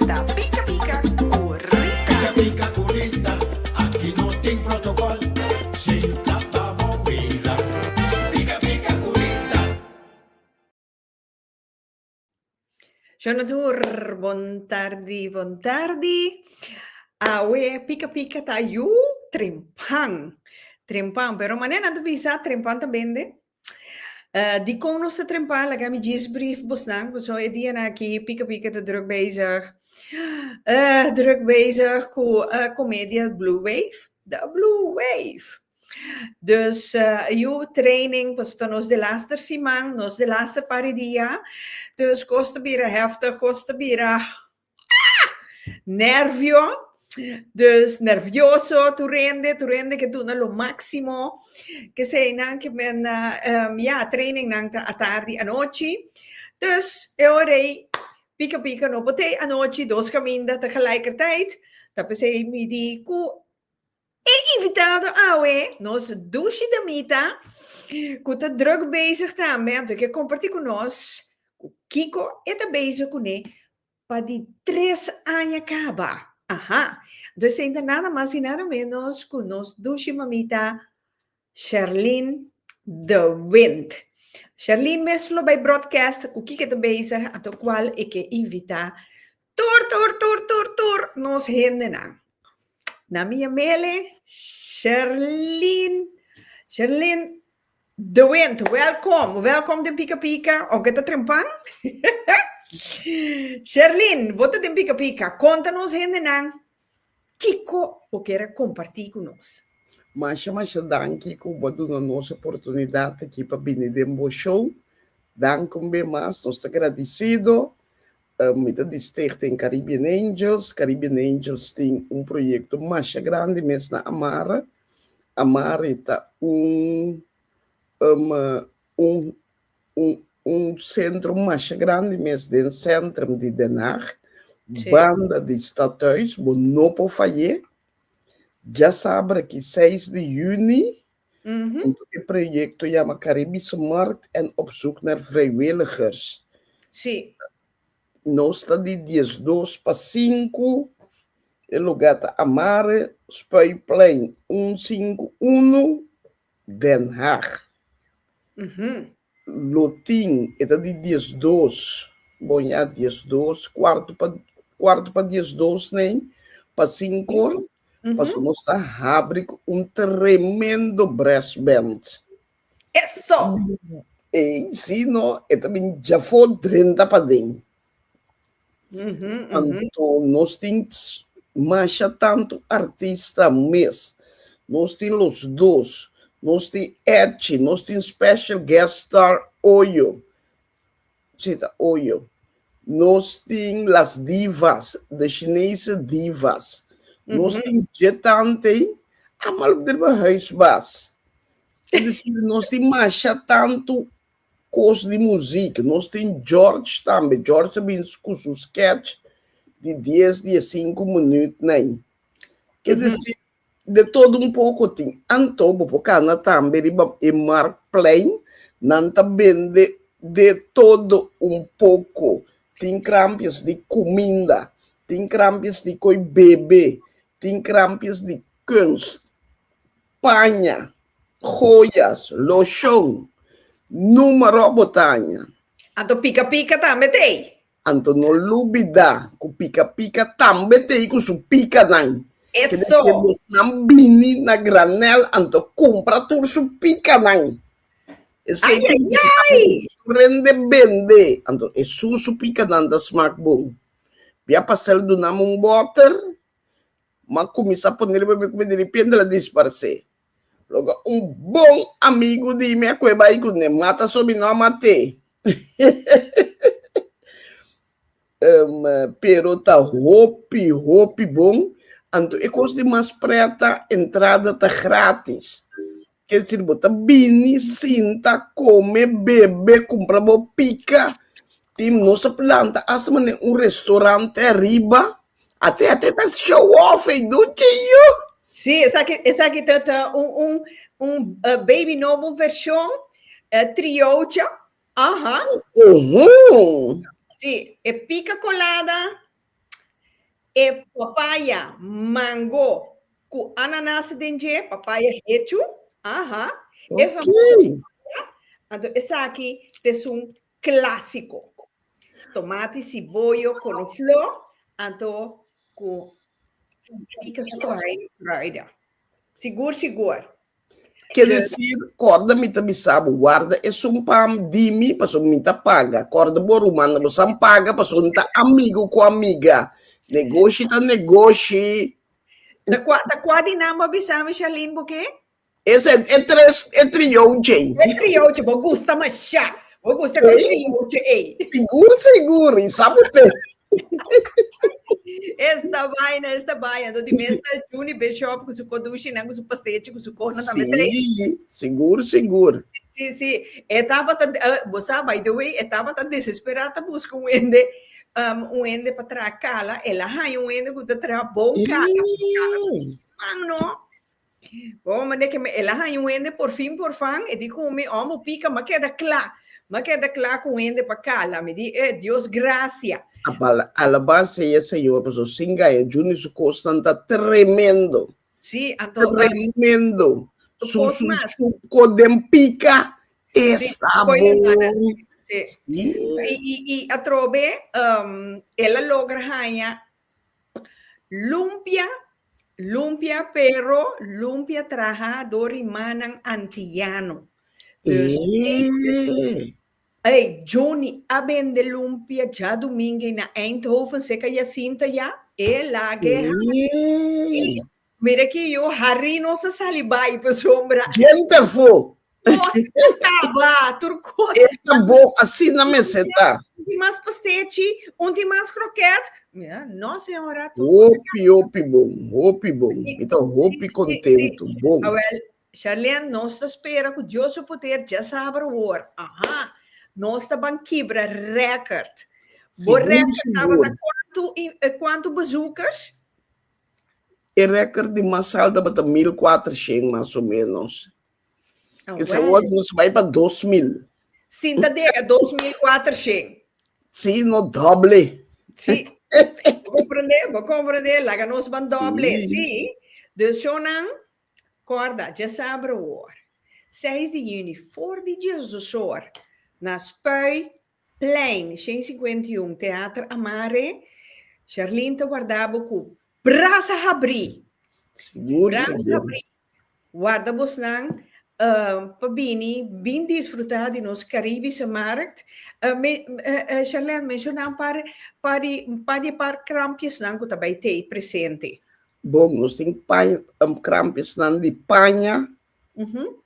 Ta pika pika ku Rita. Pika pika ku Rita, aki no tin protokol, sinta pa bo mira. Pika pika ku Rita. Jonathan, bon tardi, bon tardi. Awe pika pika ta yu trempan, trempan, pero mane nan ta bisa trempan ta bende? Dikon nos ta trempa? Laga mi djis briefbusnan, pasobra e dianan aki Pika Pika ta druk bezig, druk bezig ku e komedia Blue Wave, The Blue Wave. Dus yu training, pasobra ta nos di laster siman, nos di laster par di dia, dus kos ta bira hèftig, kos ta bira. Ah! Nervio. Dus nervioso tur hende, tur hende ke duna lo máksimo. Kesenan ke men a, ya, trainingnan ta atardi, anochi. Dus e ora ei pika pika no pot'ei anochi, dos kaminda ta gelijkertijd. Ta p'esei mi di ku. E invitado awe, nos dushi damita, cu ta druk bezig tambe, anto e ke comparti cu nos cu kico e ta bezig cune pa di tres aña caba. Aha! Anto esenta nada mas y nada menos cu nos dushi mamita Sherlyn de Wint. Sherlyn mes lo bay broadcast cu kiko ta bezig ato cual e ke invita tur tur tur tur tur nos hendenan. Na mi a mele Sherlyn Sherlyn de Wint welcom welcom den pika pika of ke ta trempan Sherlyn bo ta den pika pika conta nos hendenan Kiko bo ker a kompartí ku nos? Masha masha danki ku bo a duna nos oportunidat aki pa bini den bo show. Danki un be mas, nos ta gradisido. Mi ta di Stichting Caribbean Angels. Caribbean Angels tin un proyekto masha grandi mes na Amare. Amare ta un un centrum masha grandi mes den centrum di Den Haag banda di Stadhuis bo no por fayé dja sabra ki seis di juni punto e proyecto yama Caribische Markt en op zoek naar vrijwilligers nos ta di diesdos pa sinku e luga ta Amare Spuiplein un sinku unu. Den Haag. Lo tin, e ta di dies dos, boña dies dos, kuartu pa kuartu pa dies dos nei, pa sinkor, pasobra nos ta habri ku un tremendo brass band. Eso! Ei, si no, e ta bin djafó drenta paden. Anto nos tin masha tanto artista mes. Nos tin los dos. Nos tin Edchi, nos tin special guest star Oyo. Si ta Oyo. Nos tin las divas, de Chinese divas. Nos tin dje tante, amal op driba huis bas. Nos tin masha tanto Kos di muzik, nos tin George tambe, George ta bin ku su sketch di dies di e sinku minüt na ei. Ke desi de todo un poko tin. Anto bo por kana tambe riba e Marktplein, nan ta bende de todo un poko, tin krampias di kuminda, tin krampias di koe bebe, tin krampias di kunst. paña, joyas, loshon, numero botaña. Anto pika pika tambe ta ei. Anto no lubida ku pika pika tambe ta ei ku su pikanan. Eso. Kende bosnan bini na granel anto kumpra tur su pikanan. Esei ta ayayay. Rende bende anto e su su pikanan ta smak bon. Bia pasel dunam un boter M'a kuminsá ponel pa mi ku mi di ripiente el a disparsé. Loke un bon amigu di mi a kue bai kuné, mata so mi no a mat'é. Pero ta hopi, hopi bon, anto e kos di mas prèt ta entrada ta grátis. Kel sirbi bo ta bini, sinta, kome, bebe, kumpra bo pika. Tin nos a planta asta mane un restorante ariba. Ate ate ta show off ey duchi yu. Sí, esaki esaki ta ta un un un eh, baby nobo version eh, triocha. Aha. Uhu. Sí, e pica colada E papaya, mango cu ananas den dje, papaya hechu, aha, e famoso papaya, anto esaki ta es un clasico. Tomati, ciboyo, coloflor, anto cu rica scohaye kruiden. Sigur, sigur. Ke desir, kòrda mi ta bisa bo, warda esun pam di mi, pasobra mi ta paga. Kòrda bo, rumannan, bo san paga, pasobra no ta amigu ku amiga. Negoshi ta negoshi. Ta kua, ta kua di nan bo a bisa mi, Sharlene, bo ke? E se, e tres, e triou djei. E triou djei, bo gusta mashá. Bo gusta ku e triou djei ei. Sigur, sigur, i sa bo te. Esta vaina, esta vaina. Doti mesa Juni Bishop ku su kodushi nan ku su pastechi ku su kona tambe trei. Sí, sigur, sigur. Sí, sí. E tabata, uh, bo sa, by the way, e tabata desesperá ta buska un hende, um, un hende pa traha kala. El a haña un hende ku ta traha bon kala. Kala ta man no. Bo me de ke me el a haña un hende por fin por fan, e di ku mi, oh bo pika, m'a keda kla, m'a keda kla ku un hende pa kala. Mi di, eh, Dios grasia. Apala, alabá sea Señor, pasobra sin gaña Junior su kosnan ta tremendo. Sí, anto. Tremendo. Su, su, su, su ko den pika esta bon. Sí. I, i, i atrobe um, el a logra haña Lumpia, lumpia pero lumpia traha do rimanan antiyano. Dus Ey! Ey, Johnny a bende lumpia djaduminge na Eindhoven, seka Jacinta ya, e lage Ey! Mira ki yu Harry no sa sali bai pa su hombra. Ken ta fo? Cos ta caba, tur cos. E ta bo asina mester ta. Un tin mas pastechi, un tin mas croquet. Mira, no señora. Hopi, hopi bon, hopi bon. Mi ta hopi contento, bon. Awel, Sharlene, nos ta spera cu Dios su poder dje saber hoor. Aha, nos ta ban kibra record. Bo record tabata cuantu, cuantu bezoekers? E record di mas alto tabata mil cuatrocientos mas o menos. Ah, Esa well. word nos bai pa dos mil. Sinta dega 2400. Si, no doble. Si. Bo comprende, bo comprende. Laga nos ban doble. Si. Si. Dus shownan, corda, djes abra hoor. Seis di juni, for di djes dos hoor, na Spui, Plein, Shen Cincuenta y Un, Teater Amare, Sharlene ta warda bo cu brasa habri! Brasa habri! Warda bosnan um, pa bini bin disfruta di nos Caribische Markt. Uh, me, uh, Sharlene, menciona un par, par di, un par di par krampiesnan cu ta bay tey presente. Bon, nos tin paña, um, krampiesnan di paña, uh -huh.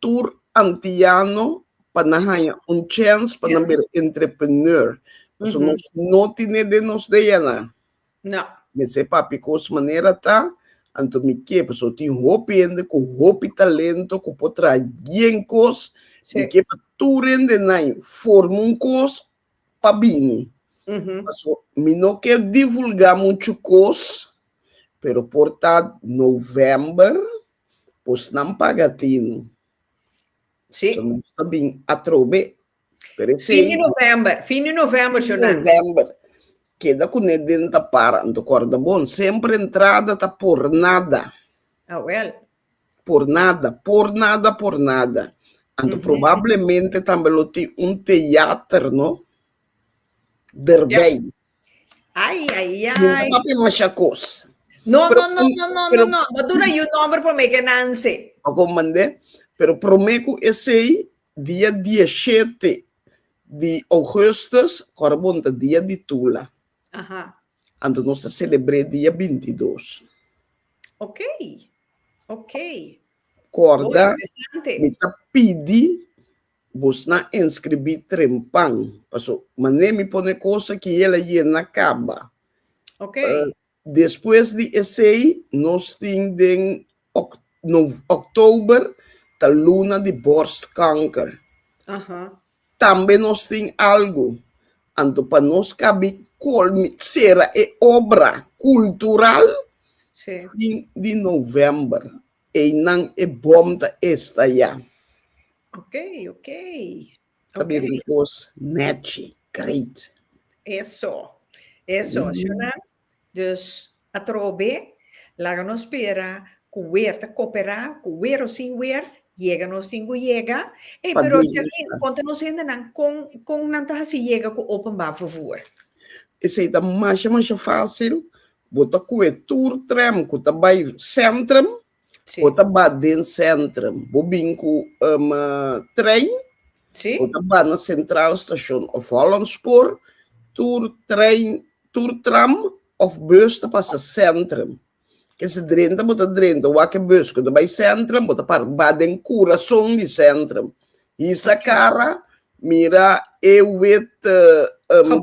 tur antiano pa nan haña un chèns pa nan bira entrepreneur. Pasobra nos no tene den nos DNA. No. Mester papia kos manera ta, anto mi ke, pasobra tin hopi hende ku hopi talento ku por traha yen kos. Mi ke pa tur hende nan forma un kos pa bini. Pasobra mi no ker divulgá muchu kos, pero por ta novèmber. Pues nan paga tin. Sí. So nos ta bin atrobe. Pero esei. Fin di november, fin di november so nan. November. Keda ku ne den ta para. Nta korda bon. Semper entrada ta por nada. Ah, well. Por nada, por nada, por nada. Anto probablemente tambe lo tin un teater, no? Derbei. Ay, ay, ay. Yo no papi masha cos. No, pero, no, no, no, no, pero, no, no. Dat dura you number por make nanse. Ako mandé. Pero prome ku esei dia 17 di augustus, kora bonta dia di tula. Aha. Anto nos ta celebré dia 22. Ok. Ok. Korda, mi ta pidi Busna enskribí trempan, paso mané mi pone kosa ki el a yena kaba. Ok. Despues di esei nos tin den Oktober ta luna di borstkanker. Aha. Tambe nos tin algu. Anto pa nos kabi kolmi sera e obra kultural fin di November. Einan e bom ta esta ya. Ok, ok. Ta bira un cos neci, great. Eso, eso. Mm. Shona, dus atrobe, laga nos spera cu wer ta coopera, cu wer o sin wer, yega nos tin cu yega. Ey, Pa pero Djalin, Dios. conta nos hendenan con, con nan ta haci yega cu openbaar vervoer? Esey ta masha, masha facil. Bo ta cu e tur tren cu ta bay centrum, bo ta ba den centrum. Bo bin cu um trein, bo ta ba na Centraal Station of Hollandspoor, tur trein, tur tram of bus ta pasa centrum. Kesa drenta bo ta drenta wak e bus cu ta bay centrum, bo ta para ba den curason di centrum. Hisa cara, mira e wit um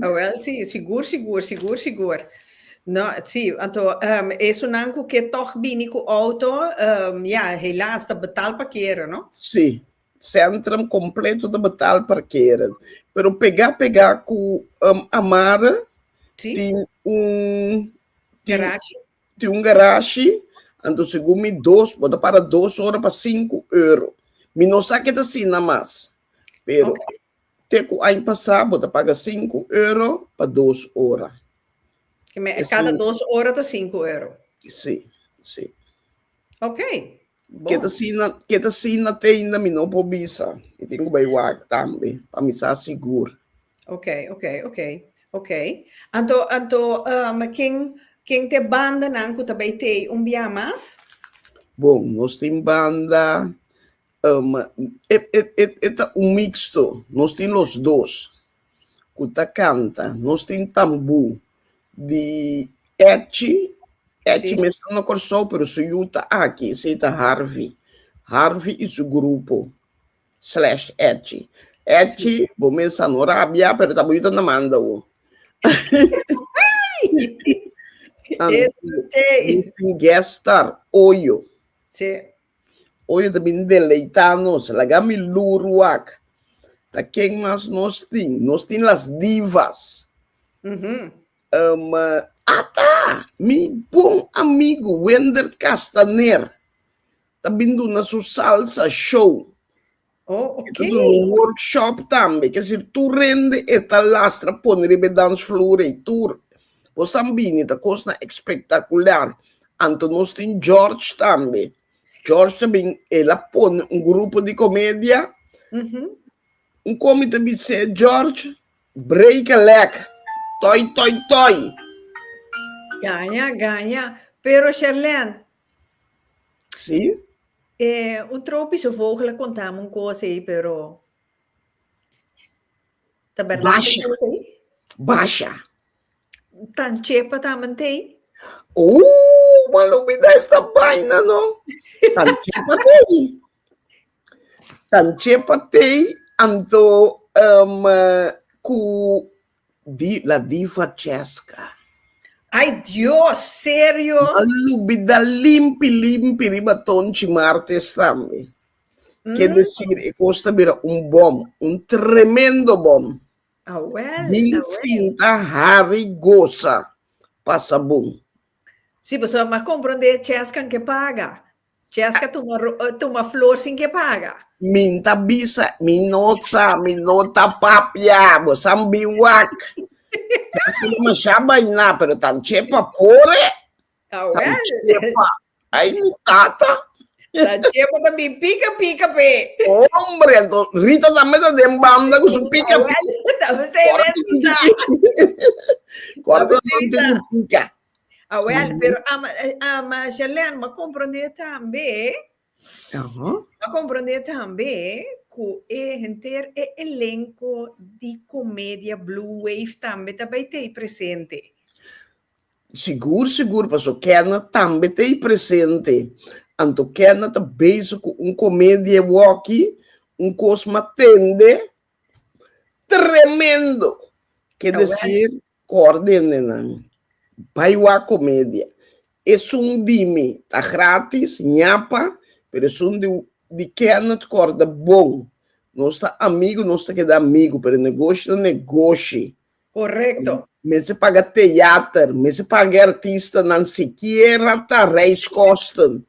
Awel si, sigur sigur, sigur sigur. No, si, anto esunnan cu ke tog bini cu auto, ya, helaas, ta betal parkeren, no? Si, centrum completo ta betal parkeren, pero pega pega cu Amara tin un garashi, anto segun mi dos, bo ta para dos ora pa sinku euro. Mi no sa ke ta asina mas, pero Te ku aña pasá bo ta paga sinku euro pa dos ora. Ke me e kada dos ora ta sinku euro? Sí, sí. Ok, bon. Ke ta sina, ke ta sina tenda mi no por bisa. Mi tin ku bai wak tambe pa mi sa sigur. Ok, ok, ok, ok. Anto, anto, um, ken, ken ta e bandanan ku ta bai tei un biaha mas? Bon, nos tin banda E ta un mixto, nos tin los dos cu ta canta, nos tin tambú di Etchi, Etchi mes ta na Corsou pero su yu ta aki, esei ta Harvey, Harvey y su grupo slash Etchi, Etchi bo mes a no rabia pero ta bo yu ta na manda bo, nos tin guest star Oyo, Oye ta bini deleitá nos, laga mi lur wak. Ta ken mas nos tin? Nos tin las divas. Mm -hmm. um, Ata, mi bon amigo Wendert Castaner ta bin duna su salsa show. Oh, oké. Okay. Itu un workshop tambe, ke si tu rende e ta lastra pone riba dansvloer ei tur. Bo san bini ta kosnan ekspektakular. Anto nos tin George tambe. George ta bin, e la pone un grupo di komedia. Mhm. Un komi ta bis'é George, break a leg, toi toi toi. Gaña, gaña. Pero Sherlene, Sí. E un tropische vogel a konta mi un kos ei, pero ta bèrdat e Basha. kos ei? Basha. Tan chepa tambe ta ei? Ooh, man lo bida esta baina no. Tan chepa ta ei. Tan chepa ta ei, anto em, eh, ku Di la diva Chesca. Ay Dios serio? Malubi da limpi limpi riba tonchi martes tambe. Ke desir e kos ta bira un bom, un tremendo bom. Awel, Bin awel. sinta hari gosa pasa bon. Si boso a comprende Chescan ke paga. Jessica tuma ro eh, tuma flor sin ke paga. Min ta bisa, min no sa, min no ta papia, bo san biwak. Jessica lo masha baina, pero tan chepa pore, Awel. tan chepa. Ay mi tata, Tan chepa ta bin pika pika pe. hombre, ento Rita tambe ta den banda ku su pika. Awel, ta be se Kora ta ven sa. tiki pika. Kora ta Tabe se ven sa. tiki pika. Awel, mm. pero ama, ama Jalen, ma comprende tambe, uh -huh. ma comprende tambe, ku e henter e elenco di comedia Blue Wave tambe tabay tei presente. Sigur, sigur, paso kena tambe tei presente. Anto kena ta bezig ku un comedia walkie, un kos matende, tremendo. Quer decir, Cordenennan, Bai wak comedia. Esun dimi ta gratis, ñapa, pero esun di di Kenneth Cor ta bon. Nos ta amigo, nos ta keda amigo, pero negoshi ta negoshi. Correcto. Mester paga theater, mester paga e artistanan sikiera ta reiskosten.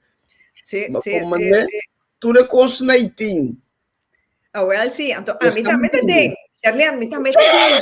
Si, Bo si, con si, mane? si. Tur e kosten ei tin. Awel si, anto ami Esnan tambe ta tin. den. Sherley, ami tambe ta den.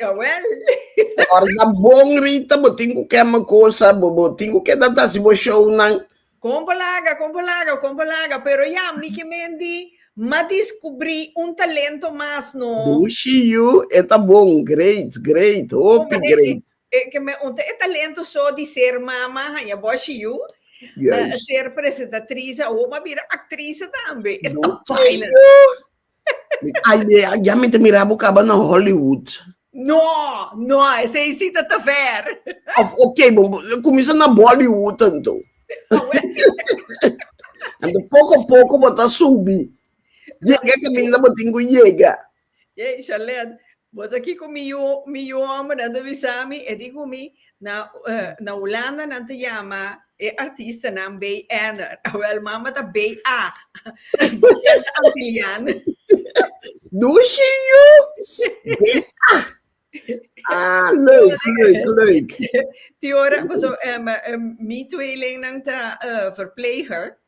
Jawel. Ora ta bon Rita, bo tin ku kema kosa, bo bo tin ku ke ta tasi bo show nan. Kon bo laga, kon bo laga, kon bo laga, pero ya mi ke menti ma diskubri un talento mas no. Dushi yu, e ta bon, great, great, hopi great. E ke me unta e talento so di ser mama, haña boshi yu, Juist. ser presentatriz, awor bo a bira aktrise tambe. E ta Dushi yu. ya mi ta mira bo kaba na Hollywood. No, no, esei si ta ta ver. Of, ok, bo kuminsa na Bollywood anto. Anto poko poko bo ta subi. Yega kaminda bo tin ku yega. Yey, Charlene, Boso kiko mi yu mi yu homber nan ta bisa mi e di ku mi na na hulanda nan ta yama e artista nan bey enner awel mama ta bey ag bashert antilian Dushi yu bey ag ah leuk leuk leuk ti ora boso mi tweeling nan ta verpleger.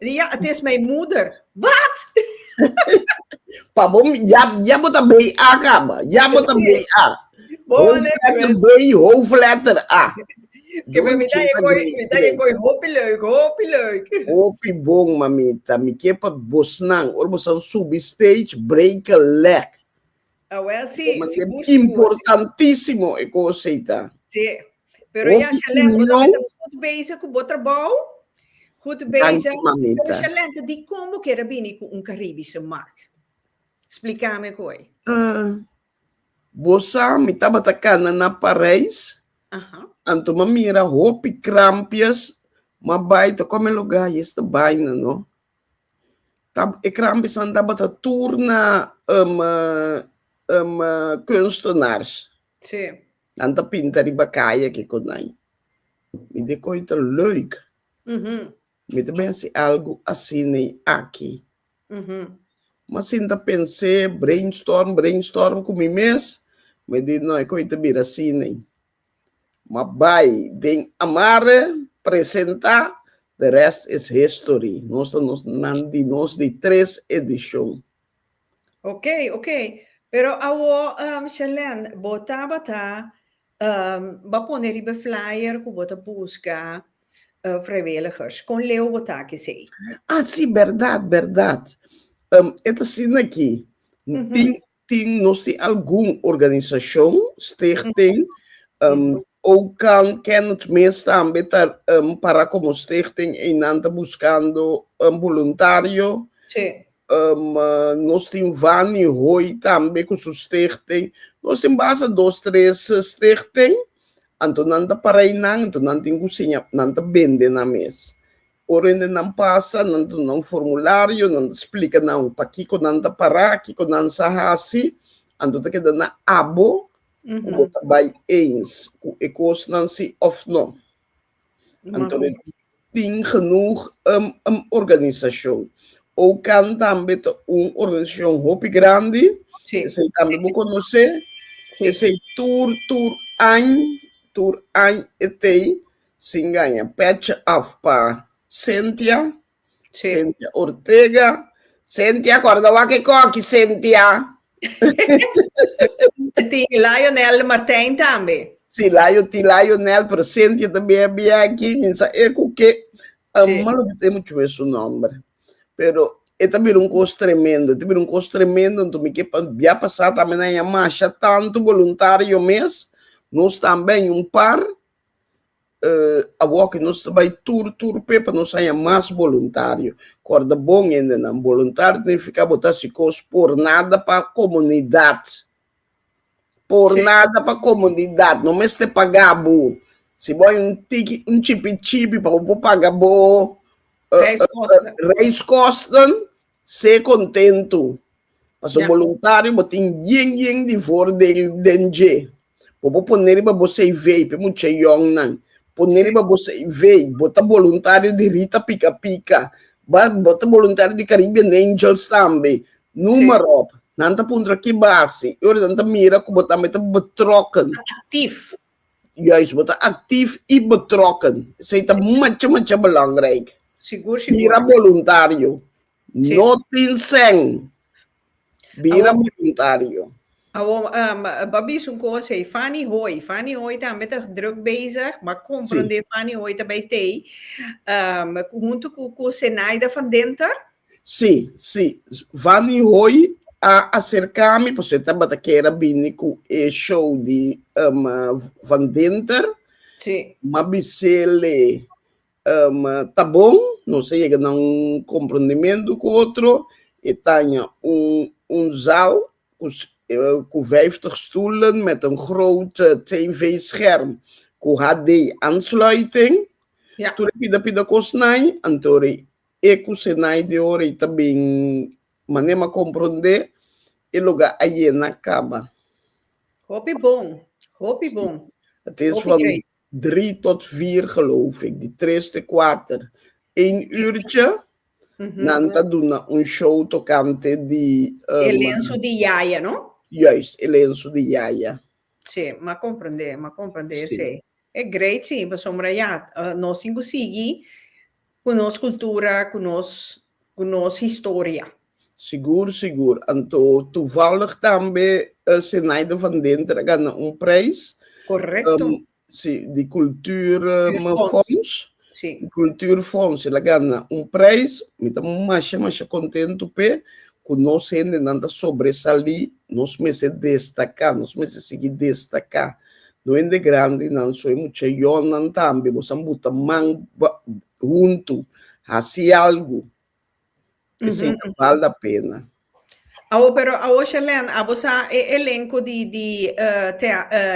Li ya, het is mijn moeder. Wat? Pa bo, ya, ya bo ta bay a kaba. Ya bo ta bay a. Hoofdletter B, hoofdletter A. Ke me mita e koi, mita e koi hopi leuk, hopi leuk. Hopi bon, mamita. Mi ke pa bosnan, ora bosan subi stage, break a leg. Awel si, Como sigur, sigur. Importantísimo e cosa ita. Si. Pero ya, Shalem, bo ta goed bezig cu bo trabao. Goed bezig. Pero Shalem, ta di con bo kere bini cu un Caribische mark? Splica me koe. Uh, bo sa, mi tabata cana na Parijs. Uh -huh. Anto ma mira hopi krampias, ma bai ta come lugar y esta baina, no? Ta e krampisnan tabata tur na um um kunstenaar. Sí. Nan ta pinta riba kai aki ku nai. Mi di koi ta leuk. Mi ta bin hasi algu asina aki. Mi a sinta pens'é, brainstorm, brainstorm ku mi mes, mi di no, e koi ta bira asina. Ma bai den amare presenta the rest is history nos ta nos nan di nos di tres edicion. Ok ok pero awor Shelene bo tabata ba pone riba e flyer cu bo ta busca vrijwilligers con leu bo ta aki esey? Ah si berdad berdad e ta asina aki tin Tin nos tin algun organisashon, stichting, Okan Kenneth mes tambe ta para komo stichting einan ta buskando boluntario. Si. Nos tin Vani Hoi tambe ku su stichting. Nos tin basta dos tres stichting, anto nan ta para einan, anto nan tin ku siña, nan ta bende nan mes. Ora hende nan pasa, nan duna un formulario, nan splika nan pakiko nan ta para, kiko nan sa hasi, anto ta keda na abo ku bo ta bai eens ku e kosnan si òf no. Anto no tin genoeg um um organisashon. OCAN tambe ta un organisashon hopi grandi, esei tambe bo konosé, esei tur tur añ, tur añ e tei Sin gaña patch off pa Cynthia Sí. Cynthia Ortega Cynthia corda wak e coki Cynthia Tin Lionel Martijn tambe. Sí Lion tin Lionel pero Cynthia ta bia bia aki mi sa e cu ke Sí. ama lo cu temo chuwe su nomber pero e ta bira un cos tremendo e ta bira un cos tremendo enton mi ke pa bia pasa tambe na yamasha tanto voluntario mes nos tambe aña un par Awor cu nos ta bay tur tur p'e pa nos haña mas boluntario. Corda bon hendenan, boluntario ta nifica bo ta haci cos por nada pa comunidad. Por nada pa comunidad, no mester paga bo. Si bo hay un tiki, un chipi chipi pa bo por paga bo reiskosten, se contento. Paso yeah. voluntario bo tin yen yen di voor den den je. Bo bo poner riba bo CV, pe mucha young nan. Poner riba bo CV, bo ta voluntario di Rita Pika Pika. Ba, bo ta voluntario di Caribbean Angels tambe. Nummer sí. op. Nan ta puntra ki base. Ora nan ta mira ku bo tambe ta betrokken. Actief. Juist, bo ta actief i betrokken. Zij ta macha macha belangrijk. Sigur, sigur. Mira voluntario. No tin sèn. Bira boluntario. Awor, um, ba bisa un kos ei, Fani Hoi. Fani Hoi tambe ta druk bezig, bo a komprondé sí. Fani Hoi ta bai tei, um, huntu ku, ku Zenaida van Denter? Sí, sí. Fani Hoi a aserká mi, paso e tabata kera bini ku e show di um, Van Denter. Sí. Ma bisele, Ta bon, nos a yega na un komprondementu ku otro. E taña un zaal ku vijftig stoelen met een groot tv-scherm ku HD-aansluiting. Tur e pida pida kosnan, anto ora e ku senai di ora ei ta bin manera m'a komprondé, e lugá a yena kaba. Hopi bon, hopi bon. Hopi grei. Drie tot vier geloof ik, di tres te kuater, een uurtje. Nan ta duna un show tokante di. E lensu di yaya, no? Juist, e lensu di yaya. Sí, m'a comprendé, m'a comprendé esei. E great sí, pasobra ya, nos tin cu sigui Ku nos kultura, ku nos ku nos historia. Sigur, sigur. Anto tuvallig tambe e Zenaide van Denter a gana un prijs. Korekto. Si, di kultuur fonds. Si. Di kultuur fonds. El a gana un prijs. Mi ta masha, masha kontentu p'e ku nos hendenan ta sobresalí. Nos mester destaká, nos mester sigui destaká. No hende grandi nan so e mucha yolnan tambe bo san buta man huntu hasi algu esei ta bal da pena. Awo pero awo Shelène abo sa e elenko di di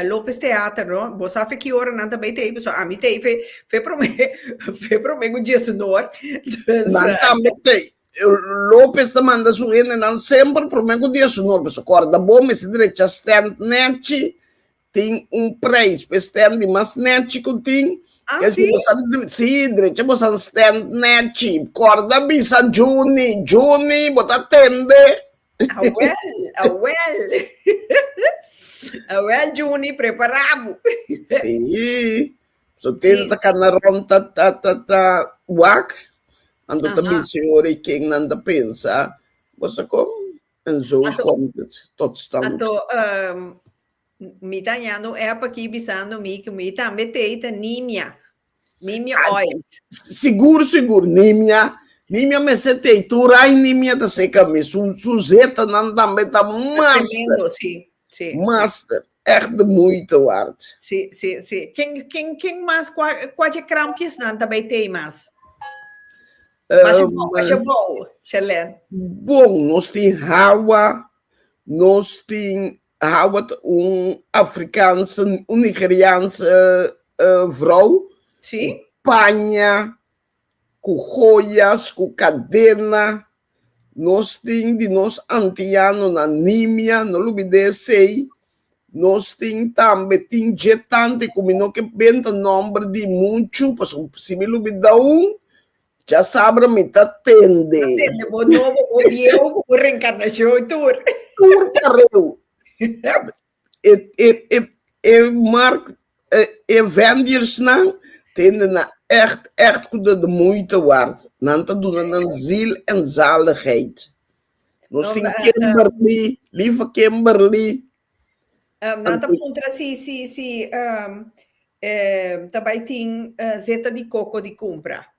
Lopez Theater no bo sa fe ki ora nan ta bay tei paso ami tei fe fe prome fe prome ku Djesunor. Nan tambe tei. Lopez ta manda su hendenan semper prome ku dia su nor. Pasobra kòrda bo, mester drecha stènt nèchi. Tin un preis pa e stènt di mas nèchi ku tin. Así? Esei bosa, sí, drecha bosa un stènt nèchi. Kòrda bisa Juni. Juni, bo ta tende? Awèl, awèl. Awèl Juni, prepará bo. Sí. So tenta ta cana rond ta ta ta ta wak. Ando ta Aha. busy ori ken nan ta pensa. Bosa kom? En zo Ato- komt het tot stand. Ato, ehm, mi ta hañando un app aquí bisando mi que mi tambe tei ta nimia. Nimia Ah, oil. Sigur, sigur, nimia. Nimia me se te turai nimia ta seca mi. Su, su zeta nan tambe ta mas. Tremendo, sí. Sí, Master, sí. echt de moeite waard. Sí, sí, sí. Ken, ken, ken mas, kua, kua dje krampjesnan ta bay tey mas? Um, Mas je bou, mas je bou, Sherlyn. Bon, nos tin hawa, nos tin hawa ta un Afrikaanse, un Nigeriaanse uh, vrouw. Sí. Paña, Ku hoyas, ku kadena. Nos tin di nos antiano na Nimia, no lubidá esei. Nos tin tambe, tin dje tante ku mi no ke benta nòmber di muchu, pasobra si mi lubidá un, dja sabra mi ta tende. Ta tende bo nobo o bieu ku bo renkarnashon tur. Tur kareu. E e e e mark e e vendersnan tende na ègt ègt ku ta di muita ward. Nan ta duna nan ziel en zaligheid. Nos tin Kimberly, lieve Kimberly. Nan ta puntra si si si ta bai tin zeta di koko di kumpra.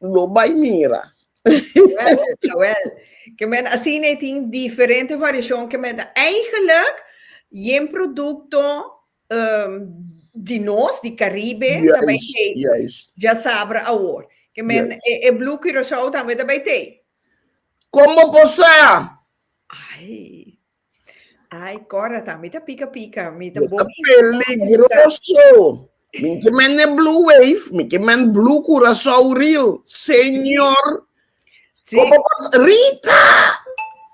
Lo bai mira. Jawel, jawel. Ke men asina e tin diferente variashon ke men ta eigelijk yen produkto ehm di nos, di Karibe, ta bai tei. Juist, juist. Djasabra awor. Ke men Juist. e e Blue Curacao tambe ta bai tei. Kon bo por sa? Ai. Ai, kòrda ta, mi ta pika pika, mi ta bon mi. Yo ta peligroso, mi ke men e blue wave, mi ke men blue Curaçao reel, señor, komo bos, Rita!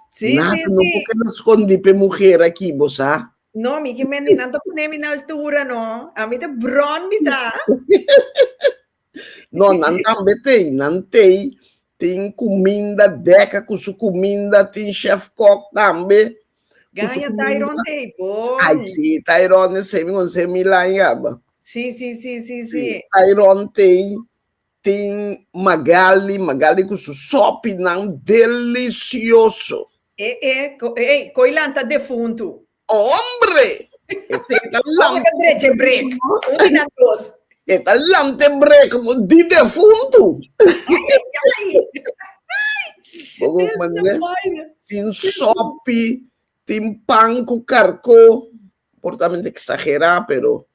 Si, Nada, si, no por keda skondi p'e muher aki, bo sa. No, mi ke men, ni nan ta pone mi na altura no, a mi ta bròn mi ta. No, nan tambe tei, nan tei. Tin kuminda deka ku su kuminda, tin chef kok tambe. Ganja Tairon tei, bon. Ai, si, Tairon e semi kon se mi lañaba. Si, si, si, si, si. Tairon tei, tin Magali, Magali ku su sopinan delisioso. E, e, ko, ei, koi lanta defuntu. Hombre! Ese ta Como te breche break? Uno na dos. E ta lante brek mo di defuntu. Bobo Ese mané ta baile. tin sopi, tin pan ku karko, por ta mente eksagerá pero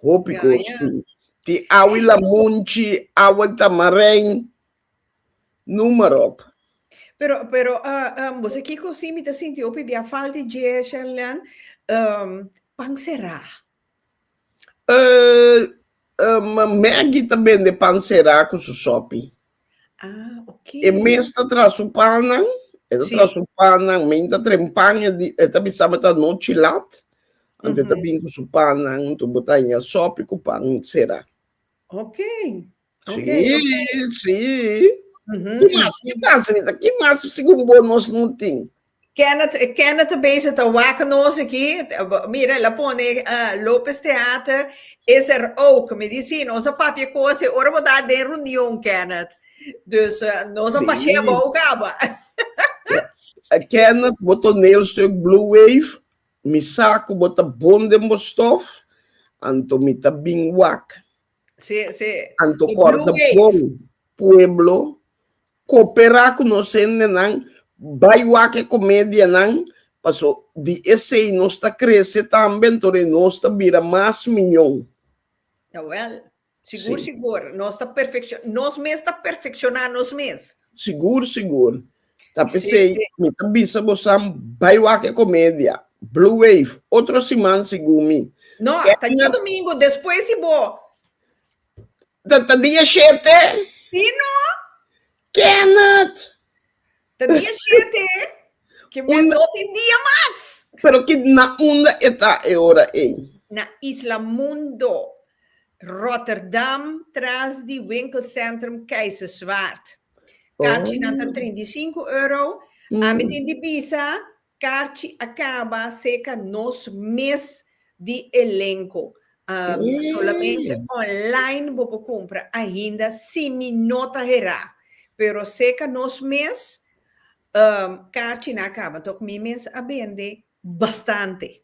hopi Ya, kos ya. tin. Tin awa i lamunchi, awa i tamarén, Numerop. Pero, pero, uh, um, bosa kiko si mi ta sinti opi bia falta di dje, Sherlan, um, pan será. Uh, um, Maggie ta bende pan será ku su sopi. Ah, ok. E mes ta tra su panan, e ta sí. tra su panan, men ta tren pan, e, e ta bisa ta no chilat, mm -hmm. ta bin ku su panan, tu botanya sopi ku pan será. Ok. Si, si. Ki mas, ki mas, Rita? Ki mas segun bo nos no tin? Kenneth, Kenneth ta bezig ta wak nos aki. Mira, el a pone uh, Lopez Theater is er ook. Mi di si, nos a papia cos e ora bo ta den reunion, Kenneth. Dus uh, nos a Si. pasea bou caba. Eh, Kenneth, bo toneelstuk Blue Wave, mi sa cu bo ta bon den bo stof, anto mi ta bin wak. Sí, sí. Anto corta bon pueblo coopera cu nos hendenan bai wak e comedianan paso di esey nos ta crece tambe anto e nos ta bira mas miño. Jawel, sigur, sigur. Nos ta perfecciona, nos mes ta perfecciona nos mes. Sigur, sigur. Ta pesey, mi ta bisa bosan bai wak e comedia. Blue Wave, otro siman segun mi. No, ta dia domingo despues di bo. Ta ta dia shete? Si no. Kenneth! Ta dia shete, ke mi Un- dos di dia mas. Pero ki na unda e ta e ora ey? Na Isla Mundo, Rotterdam, tras di winkelcentrum Keizerswaard. Karchinan ta trinta i sinku euro. Ami tin di bisa karchi a kaba serka nos mes di elenko. Ta solamente online bo por kumpra ainda si mi no ta herá. Pero serka nos mes karchinan a kaba. Tok mi mes a bende bastante.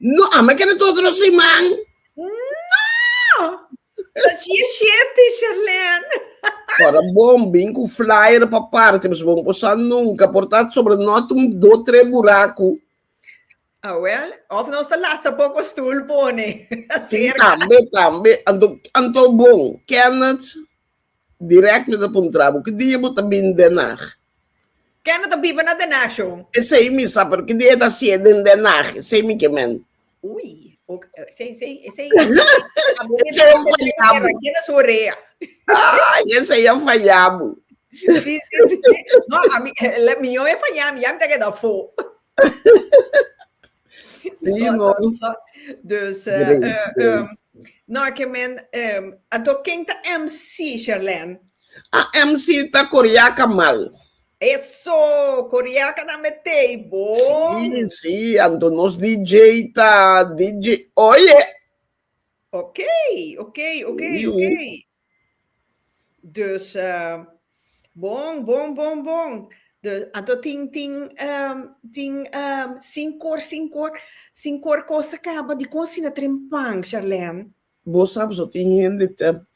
No, ama kere ta otro siman. No! Ta shie sheti, Sherlene. Ora bon bin ku flyer pa parti, pues bon posa nunka por ta sobre not un do tre buraku. Ah, well, of nos ta lasta poko stoel pone. Si, tambe, tambe. Anto, anto bon, Kenneth. Direct mi ta puntra bo, ki dia bo ta bin Den Haag? Ken a ta biba na Den Haag, Sean? Esei mi sa, pero ki dia e ta haci'e den Den Haag? Esei mi ke mente. Ui, ok, esei, esei, esei, abo mi ta hasi den guera, keda su orea. Ay, esei a faya bo. Si, si, si, no, a mi, la, miño e faya mi, ya mi ta keda afo. Sim no. Dus, no a ke men, anto ken ta MC, Sherlene? A MC ta Coriaca Mal. Eso, Coriaca ta mete ei bo. Si, si, anto nos DJ ta DJ, oye. Oke, oke, oke, oke. Dus bon bon bon bon dus anto tin tin tin sin kor sin kor sin kor kos ta kaba dikon asina trempan Sharlene? Bo sa pasobra tin hende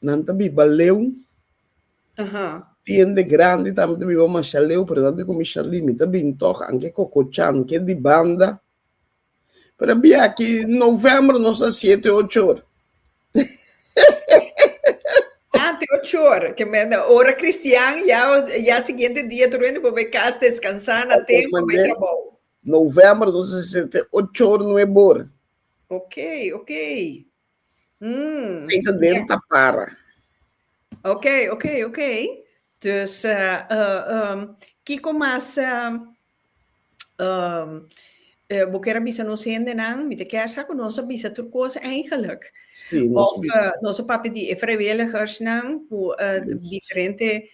nan ta biba leu tin hende grandi tambe ta biba masha leu pero nan ta komi Sharlene mi ta bin tok anke kokochan ke di banda Pero bia aki novembro nos a siete ocho ora. Ante ah, ocho ora, que me ora cristian ya ya siguiente dia tu rende bobe cas descansar na tempo me trabalho. Novembro nos a siete ocho ora nueve ora. Ok, ok. Mm. Senta dentro yeah. para. Ok, ok, ok. Dus uh, uh, um, Kiko mas uh, Um, uh, bo quiere bisa nos hendenan, mi te quiere sa con nos bisa tur cosa eigenlijk. Sí, nos of uh, nos papi di e vrijwilligers nan, ku uh, diferente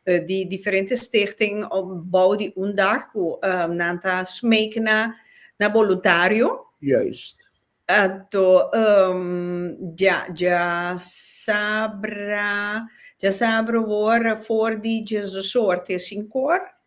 uh, di diferente stichting op bouw di un dag ku uh, nan ta smeek na na voluntario. Juist. Ato um, ja ja sabra ja sabra wor voor die Jesus soort is in kor.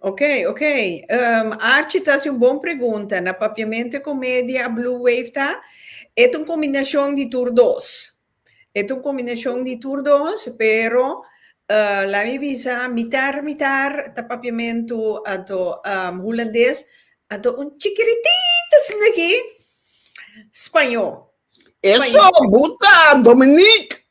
Ok, ok. Um, Archie ta haci un bon pregunta. Na papiamento e comedia a Blue Wave ta, et un combinacion di tur dos. Et un combinacion di tur dos, pero uh, laat me bisa, mitar, mitar ta papiamento ato um, Hulandes, ato un chikiritito asina aki, Spañó. Eso, Spañó. buta, Dominique!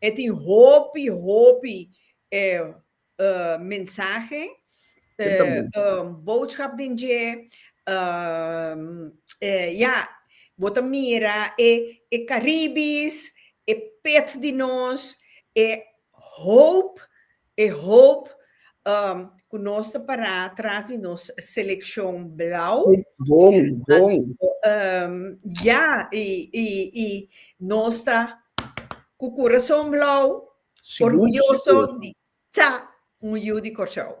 E tin hopi hopi mensahe, boodschap den dje. Ya, bo ta mira e Caribis, e pet di nos, e hoop E hoop ku nos ta pará tras di nos selekshon blau. Bon, bon. Ya, i, i, i nos ta ku kurason blau, orguyoso di ta un yu di Kòrsou.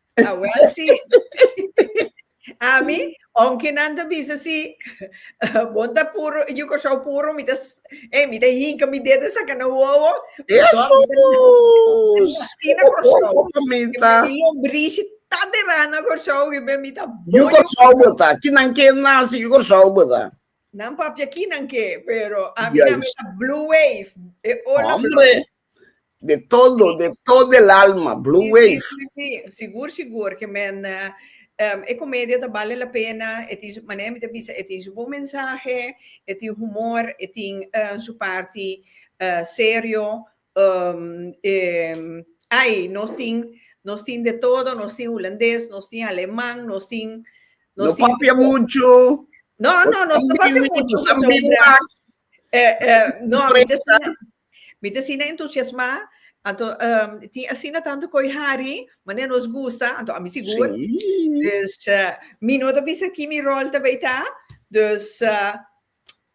A wel si ami onki nan ta bisa si bon ta puru yu kosou puru mi ta e mi ta hinka mi dedo saka na wowo asina kosou mi lombrishi ta dera na kosou kibe mi ta bo yu kosou bo ta kinan ke nasi yu kosou bo ta nan papia kinan ke pero ami nan mi ta blue wave e ola blue wave De todo, de todo el alma, Blue Wave. Sí, sí, sí, sigur, sigur, ke men um, e komedia ta bale la pena, e tin su, manera mi ta bisa, e tin su bon mensahe, e tin humor, e tin uh, su parti uh, serio, um, um, ai, nos tin, nos tin de todo, nos tin hulandes, nos tin aleman, nos tin... Nos no tin papia mucho. No, no, nos no papia mucho. Eh, eh, no, mi te Mi ta asina entusiasmá, anto tin asina tantu koe hari, manera nos gusta, anto ami sigur. Dus mi no ta bisa ki mi ròl ta bai ta, dus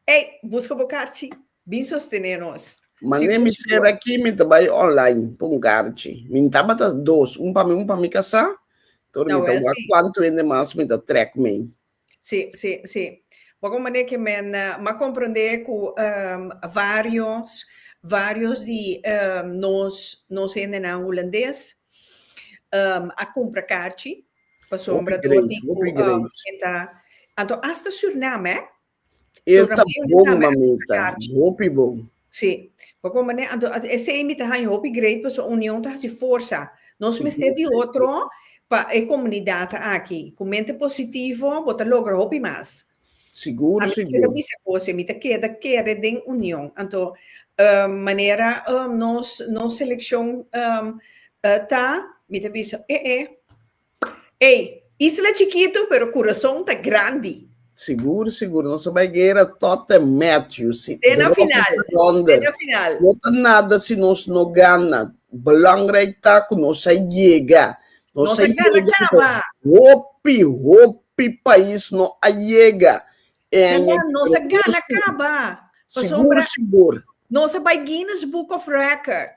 ey buska bo karchi bin sostené nos. Manera mi ser aki mi ta bai online pa un karchi, mi tabata dos, un pa mi un pa mi kasá, tur mi ta wak kuantu hende mas mi ta trèk mei. Sí, sí, sí. Bo con manera que men ma comprende cu ehm varios, varios di ehm nos, nos hendenan Hulandes ehm a cumpra carchi pasobra Hopi great, hopi dor di cu great. ehm e ta, anto hasta Suriname eh. E ta Suriname yo di bon, tambe a cumpra mamita. carchi. Hopi bon. Sí. Pa kon manera, anto a esei mi ta haña hopi great paso union ta hasi forsa. Nos Sí, mester di sí. otro pa e komunidat aki. Ku mente positivo bo ta logra hopi mas. Sigur, Ami keda sigur. bisa kos, mi ta keda kere den union. Anto um manera um nos nos selekshon um ta, mi ta bisa e e. Ey, isla chikitu pero kurason ta grandi. Sigur sigur nos ta bai guera tot en Matthew si te na final te na final no ta nada si nos no gana belangrijk ta ku nos a yega nos, nos a yega chama hopi hopi pais no a yega e aña nos a gana caba sigur sigur nos a bai Guinness book of record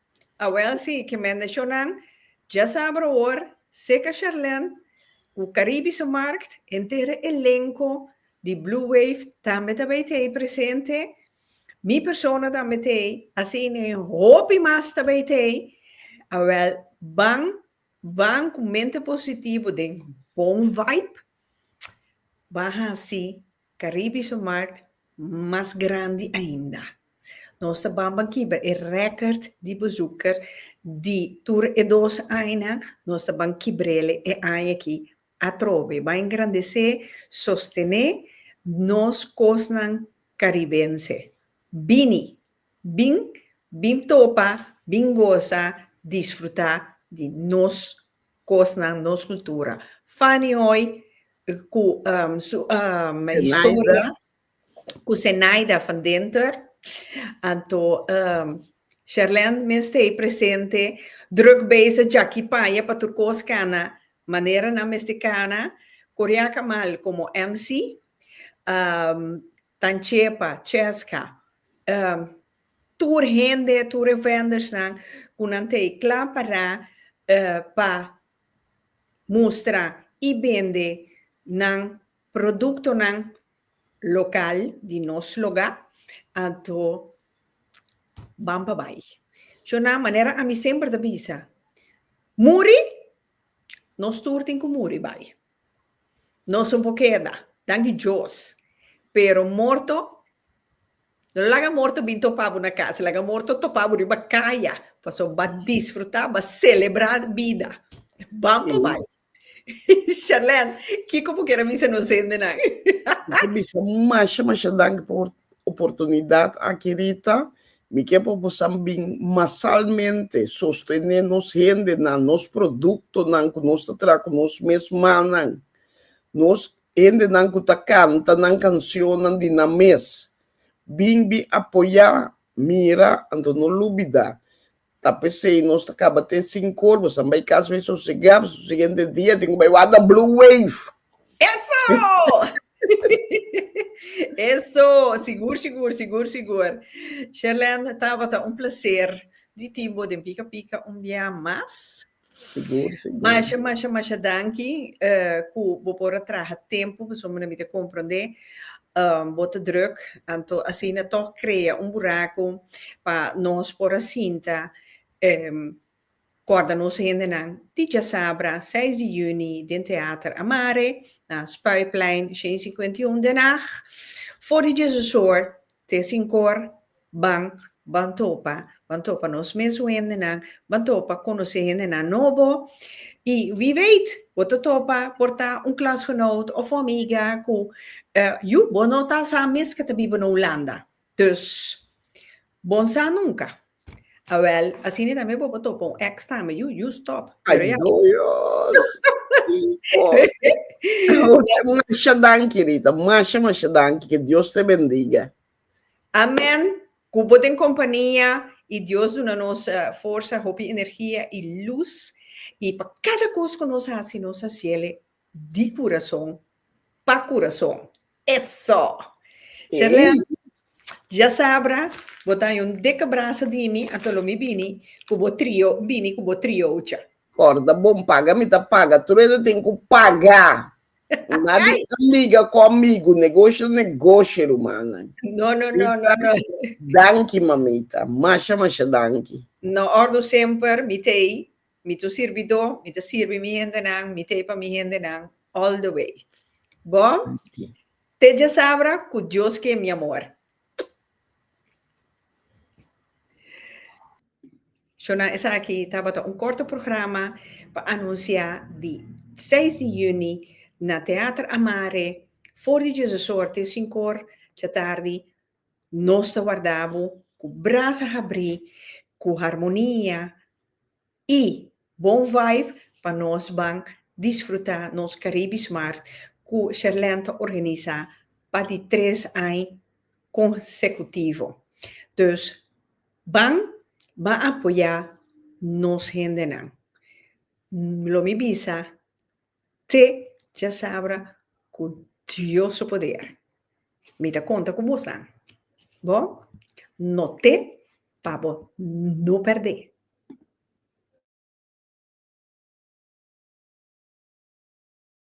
Awel si ke mendeshonan dja saber awor Seca Charlène ku Caribische Markt entera elenco di Blue Wave tambe ta bay tey presente mi persona tambe tey asina e hopi mas ta bay tey awel ban ban ku mente positivo den bon vibe ban hasi Caribe su markt mas grandi ainda. Nos ta banban kiba e record di bezoeker di tur e dos añanan, nos ta ban kibrele e aña aki atrobe. Bai engrandece, sostene nos kosnan caribense. Bini! Bin, bin topa, bin goza, disfruta di nos Kosnan, nos kultura. Fanny Hoy ku su historia ku Zenaida van Dinter. Anto Sherlend mi mester ei presente. Druk bezig djaki paya pa tur kos kana manera nan mester kana. Koreaka mal komo MC. Tanchepa, Cheska, e tur hende, tur e vendersnan ku nan ta e kla pará e pa mustra i bende nan produktonan lokal di nos lugá, anto ban pa bai. Shon nan, manera ami semper ta bisa, muri, nos tur tin ku muri bai. Nos un por keda, danki Djos. Pero morto, no laga morto bin topa bo na kas, laga morto topa bo riba kaya, pasobra ba disfruta, ba selebra bida. Ban pa bai. Sherlene, kiko bo kere bisa nos hendenan? Bo ta bisa masha masha danki por oportunidad aki Rita, mi ke pa bosan bin masalmente sostene nos hendenan, nos productonan cu nos ta traha cu nos mes mannan, nos hendenan cu ta canta nan cancionnan di nan mes, bin, bin apoya, mira, anto no lubida Ta pesey nos ta caba te sin corbo san bay cas bay sosega p'es su siguiente dia tin cu bay wada blue wave. Eso! Eso! Sigur, sigur, sigur, sigur. Sherlene, tabata un placer di tin bo den Pika Pika un bia mas. Sigur, sigur. Masha, masha, masha danki eh, ku bo por a traha tempu, pasobra mi na mita komprondé eh, bo ta drùk, anto asina tòg krea un buraku pa nos por a sinta eh, kòrda nos hendenan di djasabra seis di yüni den Teater Amare, na Spuiplein shensinkuentiun, Den Haag, for di djezesor te sinkor, Ban ban topa ban topa nos mesun hendenan ban topa konosé hendenan nobo i wie weet bo ta topa por ta un klasgenoot of un amiga ku yu bo no ta sa mes ke ta biba na Hulanda dus bon sa nunka awel asina tambe bo por topa un ex tambe yu yu stòp pero ya Adoyos ki fòrti un masha danki Rita masha masha danki ke Dios te bendiga. Amen cu bo den compania y Dios duna nos forsa, hopi energia y luz y pa cada cos cu nos haci nos haciele di curason pa curason eso! Sherlene ya sabra bo ta ayon dikke brasa di mi ato lo mi bini cu bo trio bini cu bo triocha. Corda bon paga mi ta paga truedo tin cu paga. Una di amiga ku amigu, negosio negosio rumana. No no no no no. Danki mamita, masha masha danki. No ordu semper mi t'ei, mi t'un sirbidó, mi ta sirbi mi hendenan, mi t'ei pa mi hendenan all the way. Bo te djasabra ku Dios ke mi amor. Shona esaki tabata un korto programa pa anunsiá di seis di yüni na Teater Amare for di Jesusor te sinkor djatardi. Nos ta warda bo ku brasa habrí, ku harmonia i bon vibe pa nos ban disfrutá nos Caribbe's Mart ku Sherlène ta organisá pa di tres ai konsekutivo. Dus. Ban ba apoyá nos hendenan. Lo mi bisa te djasabra ku Dios su poder. Mi ta konta ku bosnan. Bo no te pa bo no pèrdè.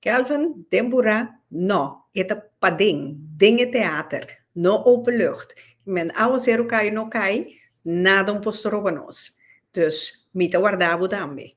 Kelvin den Burá, No, e ta paden, den e teater, no openlucht. Men awo ser u kai o no kai, nada un por stroba nos. Dus mi ta warda bo tambe.